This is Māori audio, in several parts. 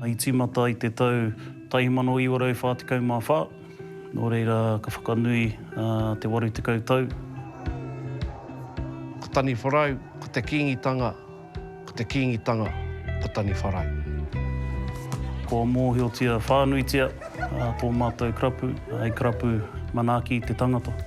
I tīmata i te tau 1944, nō reira ka whakanui te 80 tau. Ko Taniwharau, ko te Kīngitanga, ko te Kīngitanga, ko Taniwharau. Kua mōhiotia whānuitia tō mātou karapu, hei karapu manaaki i te tangata.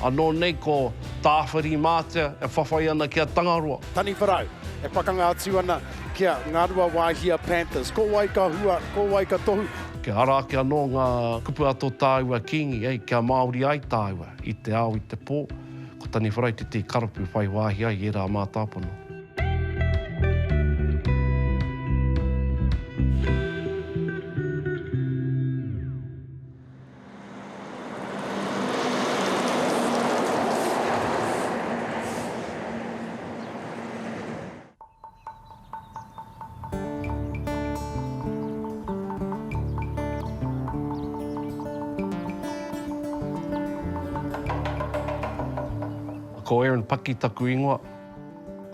Anō nei ko Tāwhirimātea e whawhai ana ki a Tangaroa. Taniwharau, e pakanga atu ana ki a Ngaruawāhia Panthers. Ko wai ka hua, ko wai ka tohu? Kia ara ake anō ngā kupu a tō tāua Kīngi, ē, kia Māori ai tāua i te ao, i te pō. Ko Taniwharau tētehi karapu whai wāhi ai i ērā mātāpono. Ko Aaron Paki taku ingoa.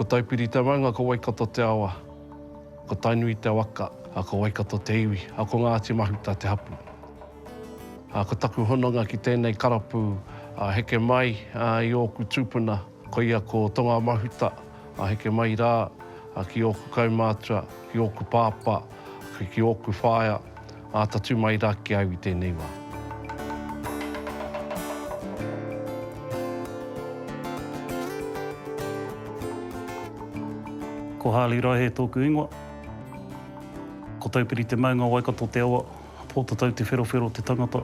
Ko Taupiri Tamaunga, ko Waikato te awa. Ko Tainui te waka, a ko Waikato te iwi, a ko Ngāti Mahuta te hapu. A ko taku hononga ki tēnei karapu a heke mai a i ōku tūpuna, koia ko Tonga Mahuta, a heke mai rā a ki ōku kaumātua, ki ōku pāpā, ki ōku whaea, Āta tū mai rā ki a au i tēnei wā. Ko Harley Raihe tōku ingoa. Ko Taupiri te maunga, Waikato te awa, Pōtatau te wherowhero, te tangata.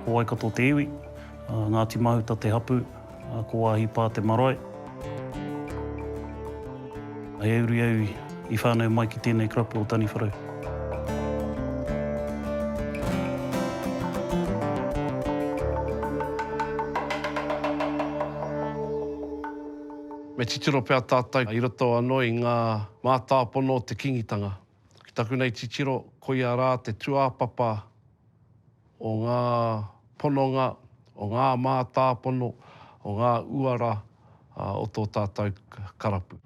Ko Waikato te iwi, Ngāti Mahuta te hapū. A ko Waahi Paa te marae. I auri au i whanau mai ki tenei karapu o Taniwharau. Me titiro pea tātou i roto anō i ngā mātāpono o te Kingitanga. Ki taku nei titiro, koia rā te tūāpapa o ngā pononga, o ngā mātāpono, o ngā uara o tō tātou karapu.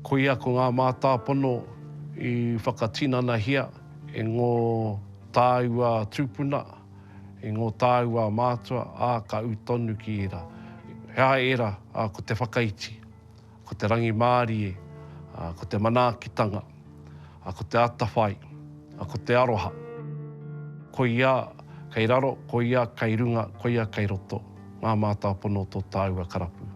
Koia ko ngā mātāpono i whakatinanahia e ngō tāua tūpuna, e ngō tāua mātua, ā, ka ū tonu ki ērā. He aha ērā? Ko te whakaiti. Ko te rangimārie, ko te manaakitanga, ko te atawhai, ko te aroha. Koia kei raro, koia kei runga, koia kei roto, ngā mātāpono o tō tāua karapu.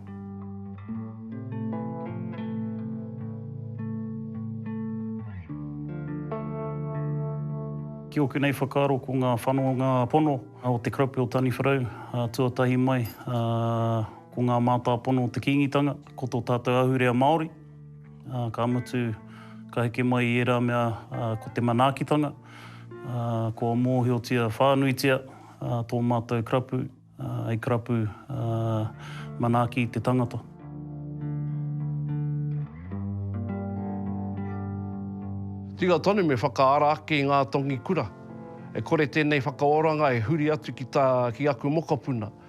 Ki ōku nei whakaaro ko ngā whanonga pono o te karapu o Taniwharau tuatahi mai, Ko ngā mātāpono o te Kīngitanga, ko tō tātou ahurea Māori, ā, ka mutu, ka heke mai i ērā mea, ā, ko te manaakitanga, ā, kua mōhiotia whānuitia, ā, tō mātou karapu, ā, hei karapu, ā, manaaki te tangata. Tika tonu me whakaara ake i ngā tongi kura. E kore tēnei whakaoranga e huri atu ki tā, ki aku mokopuna.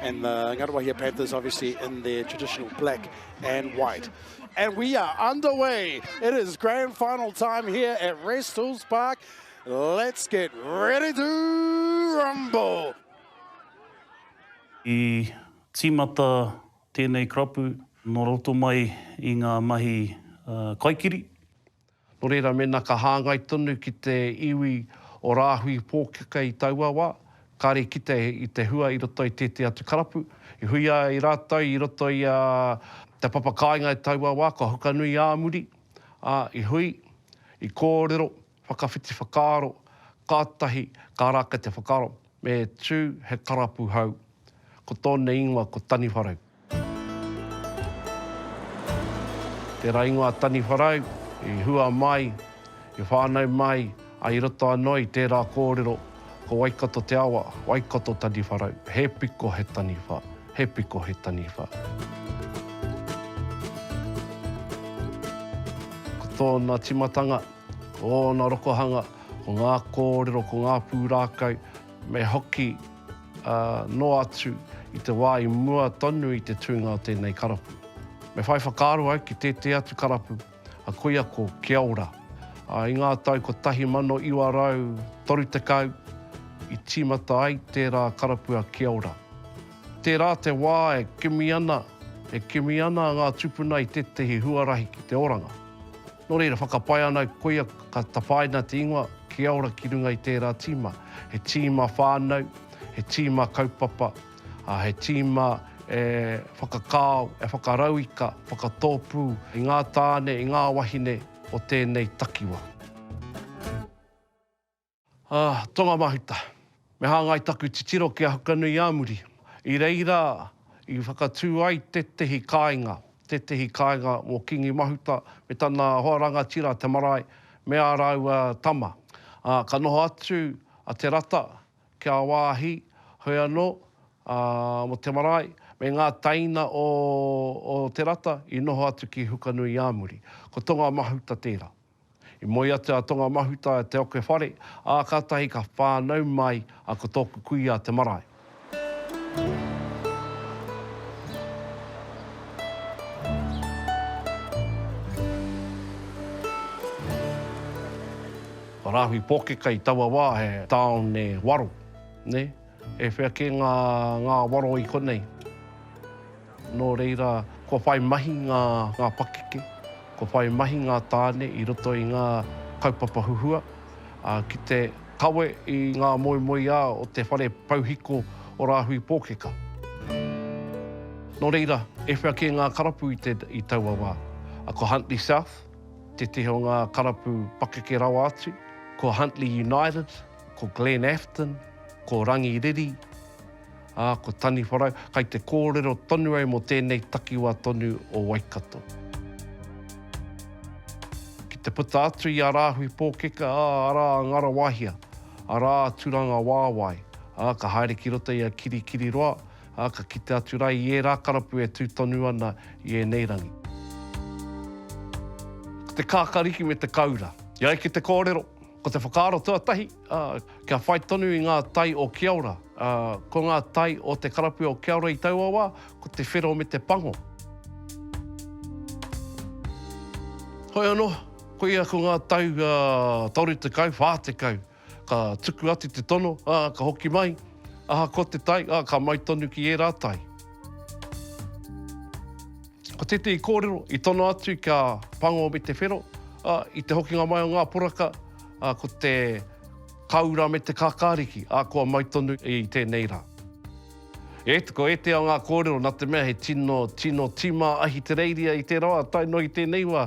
And the Ngaruahia Panthers obviously in their traditional black and white. And we are underway. It is grand final time here at Rest Hills Park. Let's get ready to rumble. I tīmata tēnei karapu nō roto mai i ngā mahi uh, kaikiri. Nō reira, mēnā ka hāngai tonu ki te iwi o Rāhui Pōkeka i taua wā, kāre kite i te hua i roto i tētehi atu karapu, i hui ai rātou i roto i a Te Papa Kāinga i taua wā, kua hukanui ā muri, ā, i hui, i kōrero, whakawhiti whakaaro, kātahi ka rākau te whakaaro. Me tū he karapu hau. Ko tōna ingoa ko Taniwharau. Tērā ingoa a Taniwharau i hua mai, i whānau mai, ā, i roto anō i tērā kōrero, ko Waikato te awa, Waikato Taniwharau, he piko he taniwha, he piko he taniwha. Ko tōna tīmatanga, Ōna rokohanga, ko ngā kōrero, ko ngā pūrākau, me hoki noa atu i te wā i mua tonu i te tūnga o tēnei karapu. Me whai whakaaro au ki tētehi atu karapu, a koia ko Kia Ora. I ngā tau 1930 i tīmata ai tērā karapu a Kia Ora. Tērā te wā e kimi ana, e kimi ana ngā tūpuna i tētehi huarahi ki te oranga. Nō reira, whakapae ana koia ka tapaina te ingoa Kia Ora ki runga i tērā tīma. He tīma whānau, he tīma kaupapa, ā, he tīma e whakakao, e whakarauika, whakatōpū i ngā tāne, i ngā wahine o tēnei takiwā. Ā, Tonga Mahuta, me hāngai taku titiro ki a Hukanui-ā-muri, i reira i whakatū ai tētehi kāinga, tētehi kāinga mō Kīngi Mahuta me tana hoa rangatira te marae me ā rāua tama. Ā, ka noho atu a Te Rata ki a wāhi, hoi anō, ā, mō te marae, me ngā tēina o Te Rata i noho atu ki Hukanui-ā-muri. Ko Tonga Mahuta tērā. I moe atu a Tonga Mahuta e te oke whare, ā, kātahi ka whānau mai a Ko Tōku Kuia te marae. Ko Rāhui Pōkeka i taua wā he tāone waro, nē. E whea kē ngā ngāwaro i konei. Nō reira, kua whai mahi ngā pakeke, kua whai mahi ngā tāne i roto i ngā kaupapa huhua, ā, ki te kawe i ngā moemoeā o te whare pouhiko o Rāhui Pōkeka. Nō reira, e whea kē ngā karapu i taua wā. Ko Huntly South tētehi o ngā karapu pakeke rawa atu, ko Huntly United, Ko Glenn Afton, ko Rangi Riri, ā, ko Taniwharau, kai te kōrero tonu au mō tēnei takiwā tonu o Waikato. Ki te puta atu i a Rāhui Pōkeka, ā, arā a Ngarawahia, arā a Turangawāwae, ā, ka haere ki roto i a Kirikiriroa, ā, ka kite atu rā i ērā karapu e tū tonu ana i ēnei rangi. Ko te kākariki me te kaura. I ai ki te kōrero, Ko te whakaaro tuatahi, kia whai tonu i ngā tai o Kiaora. Ko ngā tai o te karapu o Kiaora i taua wā, ko te whero me te pango. Hoi anō, koia ko ngā tau 30, 40, ka tuku atu te tono, ka hoki mai, ahakoa te tai, ka mai tonu ki ērā tai. Ko tētehi kōrero i tono atu kia pango me te whero, ā, i te hokinga mai o ngā poraka, ā, ko te kāura me te kākāriki, ā, kua mai tonu i tēnei rā. E, ko ētehi o ngā kōrero, nā te mea he tino, tino tīmā Ahitereiria i tērā wā, tae noa ki tēnei wā,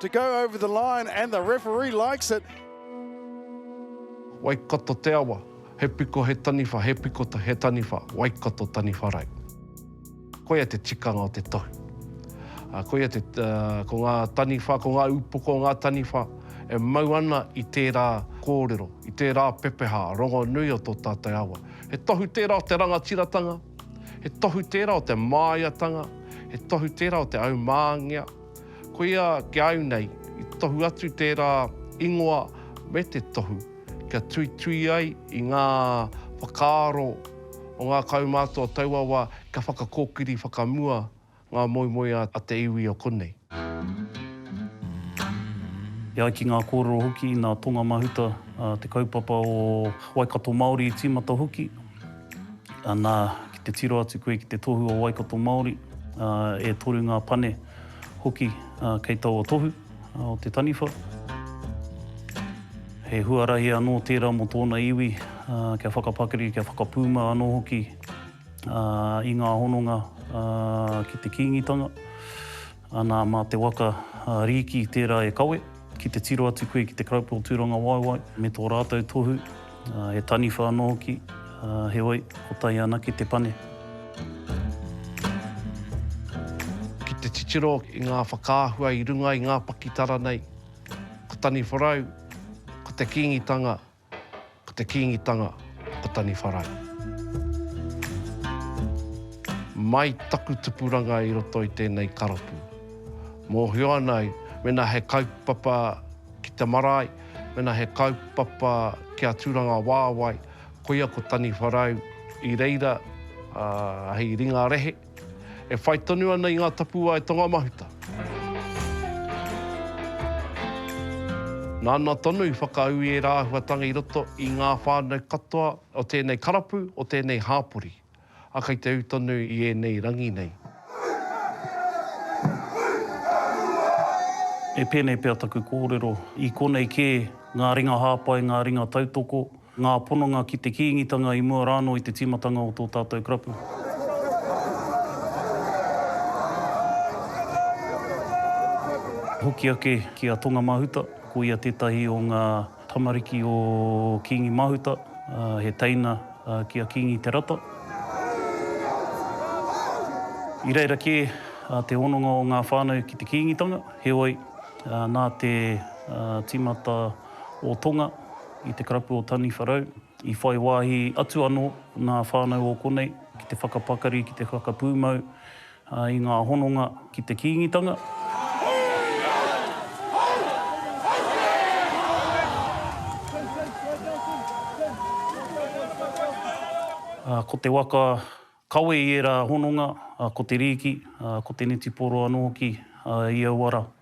To go over the line and the referee likes it. Waikato te awa, he piko he taniwha, he piko he taniwha, Waikato taniwha rei. Koia te tikanga o te tohu. Uh, koia te, uh, ko ngā taniwha, ko ngā upoko o ngā taniwha e mau ana i tērā kōrero, i tērā pepeha rongonui o tō tātou awa. He tohu tērā o te rangatiratanga, he tohu tērā o te māiatanga, he tohu tērā o te aumāngia, Koia ki a au nei, i tohu atu tērā ingoa me te tohu kia tuitui ai i ngā whakaaro o ngā kaumātua o taua wā kia whakakōkiri whakamua ngā moemoeā a te iwi o konei. E ai ki ngā kōrero hoki, nā Tonga Mahuta te kaupapa o Waikato Māori i tīmata hoki. Ana ki te tiro atu koe ki te tohu o Waikato Māori, e toru ngā pane hoki kei taua tohu o te taniwha. He huarahi anō tērā mō tōna iwi kia whakapakari, kia whakapūmau anō hoki i ngā hononga ki te Kīngitanga. Anā, mā te waka rīki tērā e kawe, ki te tiro atu koe ki te Karapu o Tūrangawaewae me tō rātou tohu, he taniwha anō hoki, heoi, kotahi anake te pane. Ki te titiro i ngā whakaahua i runga i ngā pakitara nei, ko Taniwharau, ko te Kīngitanga, Ko te Kīngitanga o Taniwharai. Mai taku tupuranga i roto i tēnei karapu. Mōhio ana au, mēnā he kaupapa ki te marae, mēnā he kaupapa kia tūranga wāwae, koia ko Taniwharau i reira hei ringa rehe. E whai tonu ana i ngā tapuwae tongamahuta. Nāna tonu i whakaū ērā āhuatanga i roto i ngā whānau katoa o tēnei karapu, o tēnei hāpori, ā, kei te ū tonu i ēnei rangi nei. E pēnei pea taku kōrero, i konei kē ngā ringa hāpai, ngā ringa tautoko, Ngā pononga ki te Kīngitanga i mua rānō i te tīmatanga o tō tātou karapu. hoki ake ki a Tonga Mahuta, ko ia tētahi o ngā tamariki o Kīngi Mahuta, he teina ki a Kīngi Te Rata. I reira kē te hononga o ngā whānau ki te Kīngitanga, heoi, nā te tīmata o Tonga, i te karapu o Taniwharau, i whai wāhi atu anō nā whānau o konei ki te whakapakari, ki te whakapūmau i ngā hononga ki te Kīngitanga. Ko te waka kawe i ērā hononga, ko te rīki, ko te netiporo anō hoki i aua rā.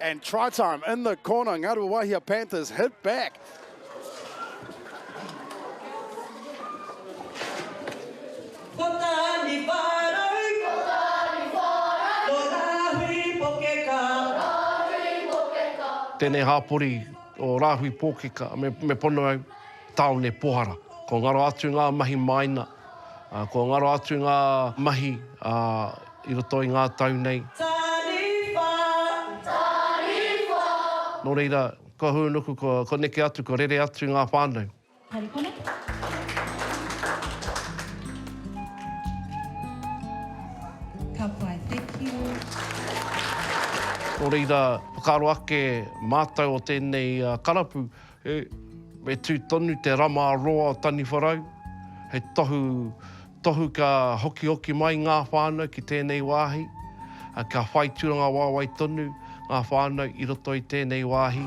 And try time in the corner. Ngaruawahia Panthers hit back. Tēnei hāpori o Rāhui Pōkeka, me, me pono au, tāone Pohara. Kua ngaro atu ngā mahi māina, kua ngaro atu ngā mahi a I roto i ngā tau nei. Taniwha! Taniwha! Nō reira, ko Hūnuku, ko neke atu, ko rere atu ngā whānau. Haere pono. Ka pai, thank you. Nō reira, whakaaro ake mātou o tēnei karapu, He Me tū tonu te rama roa o Taniwharau, he tohu tohu ka hokihoki mai ngā whānau ki tēnei wāhi, ā, ka whai tūranga wāwae tonu ngā whānau i roto i tēnei wāhi.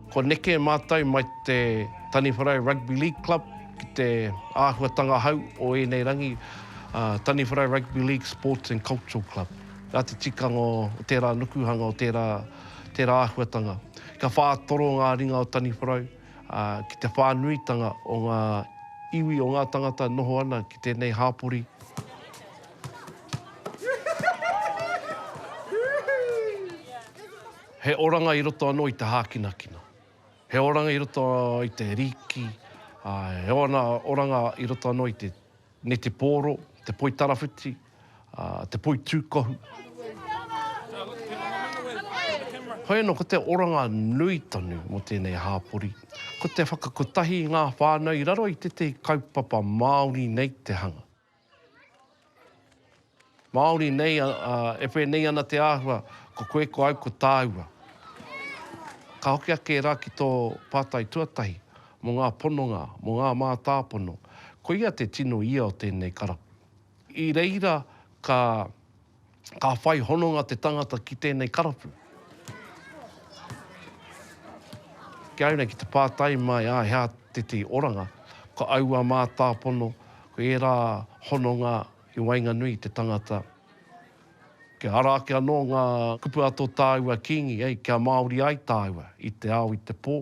Kua neke mātou mai te Taniwharau Rugby League Club ki te āhuatanga hou o ēnei rangi, a Taniwharau Rugby League Sports and Cultural Club. Nā te tikanga o tērā nukuhanga, o tērā, tērā āhuatanga, ka whātoro ngā ringa o Taniwharau, ā, ki te whānuitanga o ngā iwi, o ngā tangata noho ana ki tēnei hāpori. He oranga i roto anō i te hākinakina. He oranga i roto i te rīki, ā, he ona oranga i roto anō i te netepōro, te poi tarawhiti, ā, te poi tūkohu. Hoi anō, ko te oranga nui tonu mō tēnei hāpori, ko te whakakotahi i ngā whānau i raro i tētahi kaupapa Māori nei te hanga. Māori nei a, a, e whēnei ana te āhua, ko koe, ko au, ko tāua. Ka hoki ake rā ki tō pātai tuatahi, mō ngā pononga, mō ngā mātāpono, koia te tino ia o tēnei karapu. I reira ka Ka whai hononga te tangata ki tēnei karapu. Kia ora ki te pātai mai a hea te te oranga, ko aua mātāpono, ko ērā hononga i waenganui i te tangata. Kia ara ake anō ngā kupu a tō tāua Kīngi, kia Māori ai tāua i te ao, i te pō,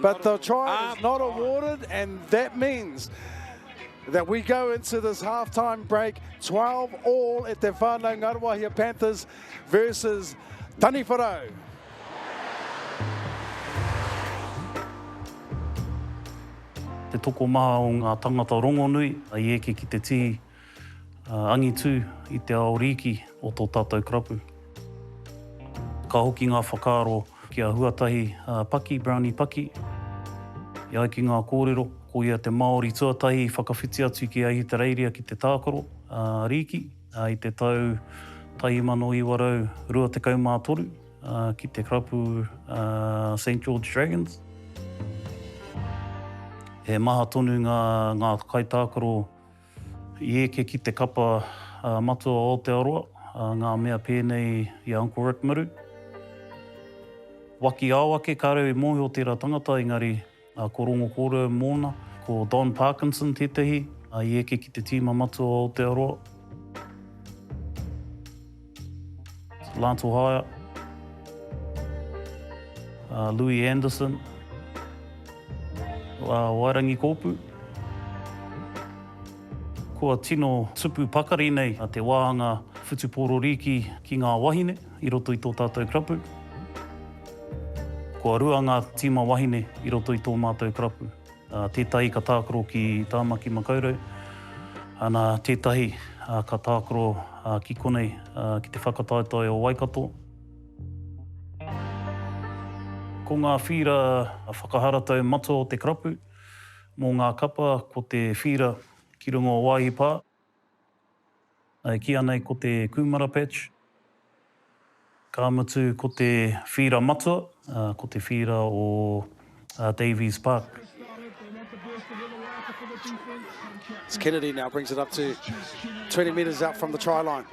But the try is not awarded, and that means that we go into this halftime break 12 all at the Whānau Ngaruahia Panthers versus Taniwharau. Te tokomaha o ngā tangata rongonui, i eke ki te tī, Angitu i te ao rīki o tō tātou karapu. Ka hoki ngā whakaaro ki a Huatahi Paki, Brownie Paki. E ai ki ngā kōrero, ko ia te Māori tuatahi i whakawhiti atu ki Ahitereiria ki te tākaro rīki i te tau 1923 ki te karapu Saint George Dragons. He maha tonu ngā kaitākaro. I eke ki te kapa matua o Aotearoa ngā mea pēnei i a Uncle Rick Muru. Wakiao ake ka reo i mōhio tērā tangata engari ko Rongo Kōrero mōna, ko Don Parkinson tētehi i eke ki te tīma matua o Aotearoa. Lance Ohaya, uh, Louis Anderson, uh, Wairangi Kōpu. Kua tino tupu pakari nei te wāhanga whutupōrorīki ki ngā wahine i roto i tō tātou krapu. Kua rua ngā tīma wahine i roto i tō mātou krapu. Tētahi ka tākaro ki Tāmaki Makaurau, ana tētahi ka tākaro ki konei ki te whakataetae o Waikato. Ko ngā whīra whakaharatau matua o te karapu mō ngā kapa ko te whīra ki runga o Wāhi Pā. E kīia nei ko te kūmara patch, ka mutu ko te whīra matua, ko te whīra o Davies Park. It's Kennedy now brings it up to 20 metres out from the try line.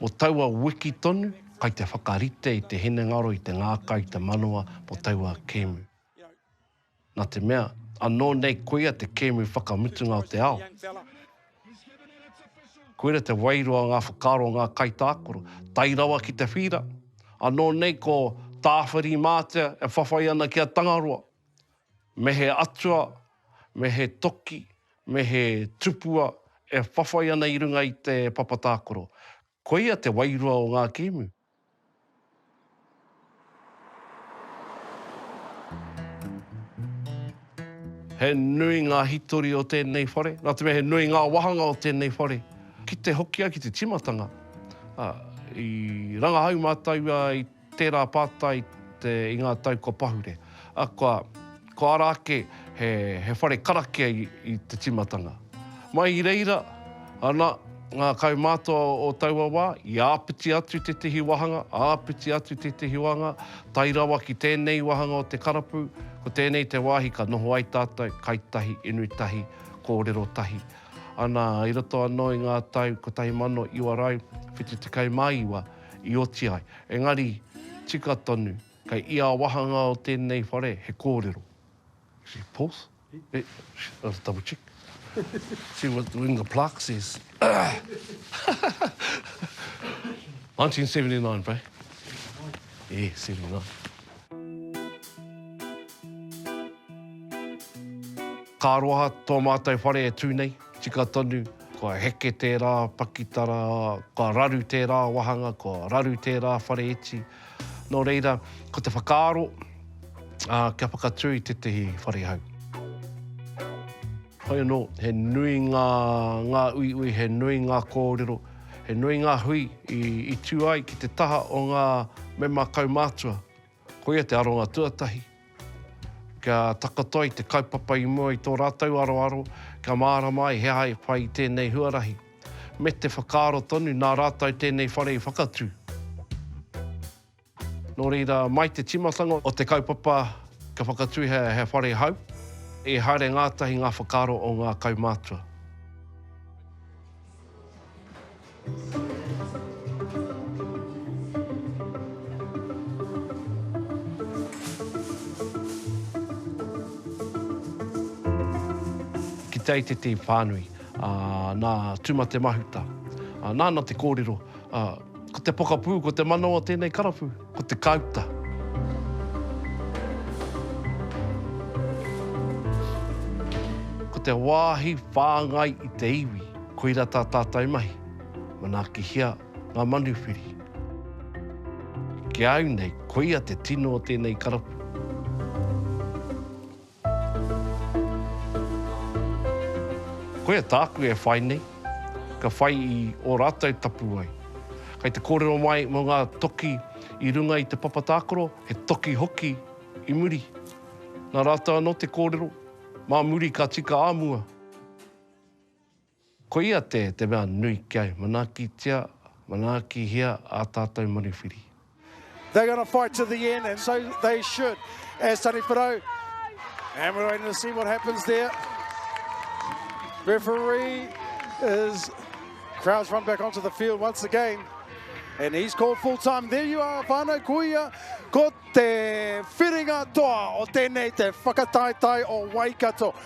Mō taua wiki tonu, kai te whakarite i te hinengaro i te ngākau i te manawa mō taua kēmu. Nā te mea, anō nei koia te kēmu whakamutunga o te ao. Koira te wairua o ngā whakaaro o ngā kaitākaro, tae rawa ki te whīra, anō nei ko Tāwhirimātea e whawhai ana ki a Tangaroa. Me he atua, me he toki, me he tupua e whawhai ana i runga i te papa tākoro. Koia te wairua o ngā kēmu. He nui ngā hitori o tēnei whare, nā te mea he nui ngā wāhanga o tēnei whare. Ki te hoki ai ki te tīmatanga, i rangahau mātou i. Tērā pātai te i ngā tau kua pahure, a kua, kua ara ake he, he whare karakia i, i te timatanga. Mai i reira, ana, ngā kaumātua o taua wā, i āpiti atu tētehi wāhanga, āpiti atu tētehi wāhanga, tae rawa ki tēnei wāhanga o te karapu, ko tēnei te wāhi ka noho ai tātou, kai tahi, inu tahi, kōrero tahi. Ana, i roto anō i ngā tau 1979, i oti ai. Engari, tika tonu, kei ia wāhanga o tēnei whare he kōrero. Is it Porth? Eh, let's double check. See what the, in the plaque says. 1979, bro. Yeah, 79. Ka aroha tō mātou whare e tū nei. Tika tonu, kua heke tērā pakitara, kua raru tērā wāhanga, kua raru tērā whare iti. Nō reira, ko te whakaaro, kia whakatū i tētahi whare hau. Hoi anō, he nui ngā, ngā uiui, he nui ngā kōrero, he nui ngā hui i, i tū ai ki te taha o ngā mema kaumātua Koia te aronga tuatahi, kia takoto ai te kaupapa i mua i tō rātou aroaro, kia mārama ai he aha e whai i tēnei huarahi, me te whakaaro tonu nā rātou tēnei whare i whakatū. Nō reira, mai te tīmatanga o te kaupapa kia whakatūhia he whare hou, i haere ngātahi ngā whakaaro o ngā kaumātua. Ki te ai te team whānui, nā Tūmatemahuta, nāna te kōrero, ko te pokapū, ko te manawa tēnei karapu. Ko te kāuta. Ko te wāhi whāngai i te iwi. Koira tā tātou mahi. Manaakihia ngā manuwhiri. Ki a au nei, koia te tino o tēnei karapu. Koia tāku e whai nei, ka whai i ō rātou tapuwae. Kei te kōrero mai mō ngā toki i runga i te papa tākaro, he toki hoki i muri. Nā rātou anō te kōrero, mā muri ka tika ā mua. Koia te te mea nui kia manaakitia, manaakihia ā tātou manuwhiri. They're gonna fight to the end and so they should as Tani Parau and we're going to see what happens there. Referee is crowds run back onto the field once again and he's called full time. There you are whānau kuia ko te whiringa toa o tēnei te whakataetae o Waikato.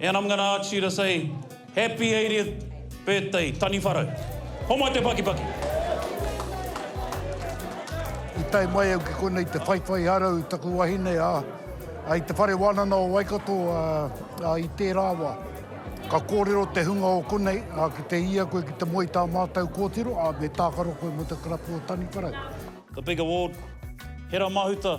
And I'm gonna ask you to say Happy 80th birthday Taniwharau. Homai te pakipaki. I tae mai au ki konei te whaiwhai arau i taku wahine, ā, i te whare wānana o Waikato, ā, i tērā wā. Ka kōrero te hunga o konei, ā, ki te ia koe ki te moe i tā mātau kōtiro, ā, me tākaro koe mō te karapu o Taniwharau. The big award, Hera Mahuta.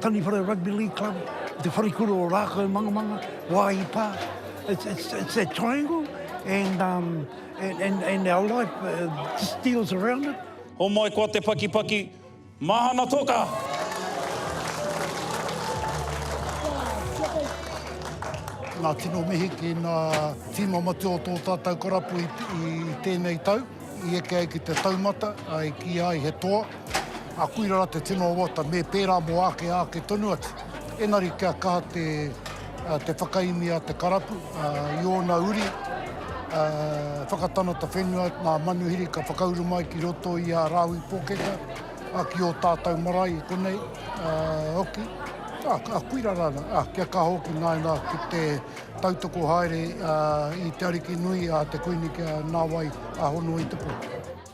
Taniwhare Rugby League Club, i te wharekura o Rākau Mangamanga, Wā i pā. It's, it's, it's that triangle and, um, and, and, and our life uh, just deals around it. Homai koa te pakipaki, mahana toka! Ngā tino mihi ki ngā tīma matua o tō tātou karapu i tēnei tau, i eke ai ki te taumata, i kīia ai he toa. Ā, koira rā te tino awata, me pērā mō āke, āke tonu atu. Engari kia kaha te, te whakaemi a te karapu, ā, i ōna uri, ā, whakatanata whenua, ngā manuhiri ka whakauru mai ki roto i a Rāhui Pōkeka, ā, ki ō tātau marae i konei, ā, hoki. Ā, ā, koira rā, ā, kia kaha hoki nāna ki te tautoko haere, ā, i te ariki nui, ā, te Kuini kia nāwai, ā, hono i te pō.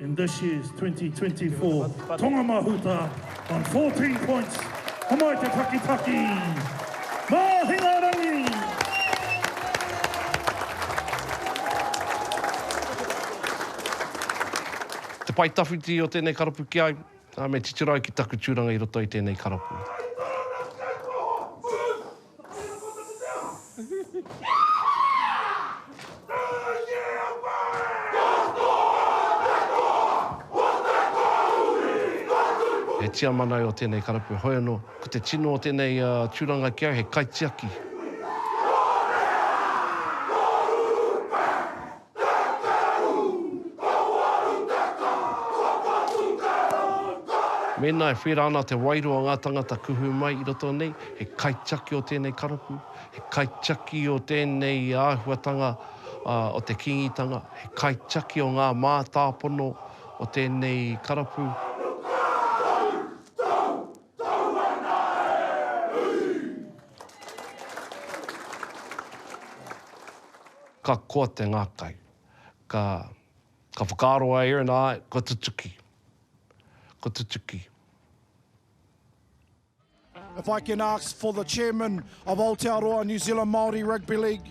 In this year's 2024 Tonga Mahuta on 14 points, Tamaite Takitaki, Mahingarangi! Te pae tawhiti o tēnei karapu ki ai, ā, me titiro ai ki taku tūranga i roto i tēnei karapu. He tiamana au o tēnei karapu, heoi anō, ko te tino o tēnei tūranga ki au, he kaitiaki. Mēnā e whērā ana te wairua o ngā tāngata kuhu mai i roto nei, he kaitiaki o tēnei karapu, he kaitiaki o tēnei āhuatanga o te Kīngitanga, he kaitiaki o ngā mātāpono o tēnei karapu. Ka koa te ngākai. Ka, ka whakaaro a Erin, āe, kua tutuki. Kua tutuki. If I can ask for the chairman of Aotearoa New Zealand Māori Rugby League,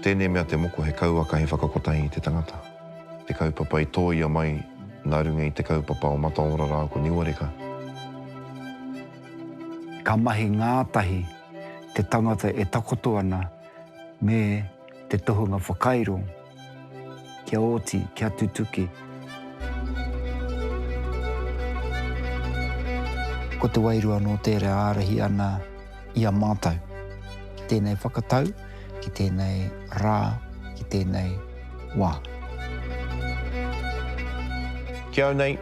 Tēnei mea te moko he kauaka he whakakotahi i te tangata. Te kaupapa i tōia mai nā runga i te kaupapa o Mataora rā ko Niuareka. Ka mahi ngātahi te tangata e takoto ana me. Te tohunga whakairo, kia oti, kia tutuki. Ko te wairua nō tērā e ārahi ana i a mātou. Ki tēnei whakatau, ki tēnei rā, ki tēnei wā. Ki au nei,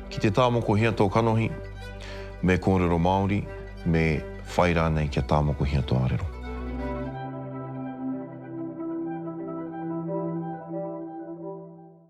ki te tā moko hia tō kanohi, me kōrero Māori. Me whai rānei kia tāmokohia tō arero.